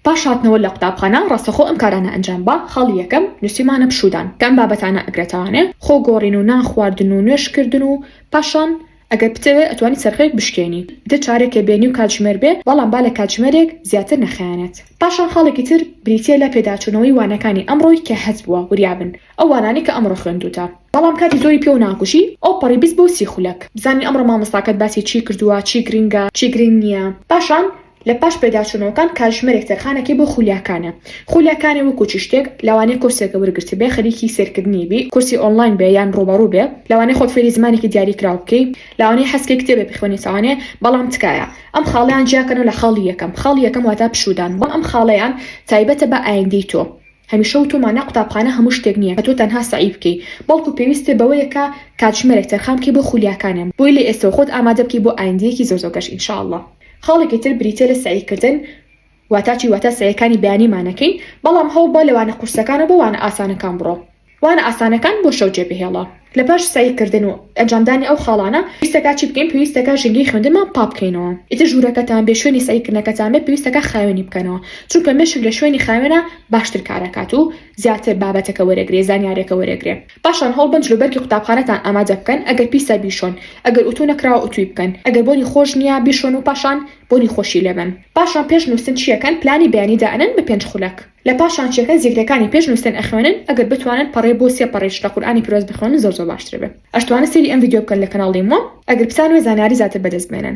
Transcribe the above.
پاش هاتنەوە لە قوتابخانە ڕاستەخۆ ئەم کارانە ئەنجام با، خاڵی یەکەم، نووسیمانە پشوودان، کە ئەم بابەتانە ئەگرێتەوانێ، خۆ گۆڕین و نان خواردن و نوێژ کردن و پاشان ئەگەر بتەوێ ئەتوانی چەرخێک بشکێنی، دە چارەکێ بێنی و کاتژمێر بێ، بەڵام با لە کاتژمێرێک زیاتر نەخایەنێت. پاشان خاڵێکی تر بریتییە لە پێداچوونەوەی وانەکانی ئەمڕۆی کە هەست بووە وریا بن ئەو وانانەی کە ئەمڕۆ خوێندووتە. بەڵام کاتی زۆری پێوە ناکوژی ئەو پەڕی بست بۆ سی خولەک بزانین ئەمڕۆ مامۆستاکەت باسی چی کردووە چی گرینگە چی گرینگ نییە پاشان لە پاش پێداچوونەوەکان کاتژمێرێک تەرخانەکەی بۆ خولیاکانە خولیاکانێ وەکو چ شتێک لەوانەیە کۆرسێکە وەرگرتبێ خەریکی سەیرکردنی بی کۆرسی ئۆنڵاین بێ یان ڕووبەڕوو بێ لەوانەیە خۆت فێری زمانێکی دیاری کراو بکەی لەوانەیە حەزکەی کتێبێ بخوێنیت ئەوانەیە بەڵام تکایە ئەم خاڵەیان جیاکەنەوە لە خاڵی یەکەم خاڵی یەکەم واتا پشوودان بەڵام ئەم خاڵەیان تایبەتە بە ئایندەی تۆ. هەمیشە وتومان نا قوتابخانە هەموو شتێک نیە کە تۆ تەنها سەعی بکەی بەڵکو پێویستت بەوەیە کە کاتژمێرێک تەرخان بکەی بۆ خولیاکانە بۆی لە ئێستەوە خۆت ئامادە بکەی بۆ ئایندەیەکی زۆر زۆر گەش ان شاء اللە خاڵێکی تر بریتیە لە سەعی کردن واتا چی واتا سەعیەکانی بەیانی مانەکەین بەڵام هەوڵبە لە وانە قورسەکانەوە بۆ وانە ئاسانەکان بڕۆ وانە ئاسانەکان بۆ شەو جێبهێڵە. لە پاش سەعی کردن و ئەنجامدانی ئەو خاڵانە، پێویستەکا چی بکەین؟ پێویستەکا ژینگەی خوێندنمان پاک بکەینەوە. ئیتر ژوورەکەتان بێ شوێنی سەعی کردنەکەتان بێت، پێویستەکا خاوێنی بکەنەوە. چونکە مێشک لە شوێنی خاوێنا باشتر کار ئەکات و زیاتر بابەتەکە وەرئەگرێ، زانیاریەکە وەرئەگرێ. پاشان هەوڵ بەن جلوبەرگی قوتابخانەتان ئامادە بکەن، ئەگەر پیسە بیشۆن، ئەگەر ئوتوو نەکراوە ئوتووی بکەن، ئەگەر بۆنی خۆش نییە بیشۆن و پاشان بۆنی خۆشی لێبەن. پاشان پێش نووستن چیەکەن؟ پلانی بەیانی دائەنێن بە پێنج خولەک. لە پاش شانشیەکە زیکرەکانی پێش نوستن ئەخوێنن ئەگەر بتوانن پەڕەی بۆ سێ پەڕیش لە قورئانی پیرۆز بخوێنن زۆر زۆر باشتر ئەبێ ئەشتوانن سەیری ئەم ڤیدیۆ بکەن لە کەناڵی مۆم ئەگەر بتانوێ زانیاری زاتر بەدەست بێنن.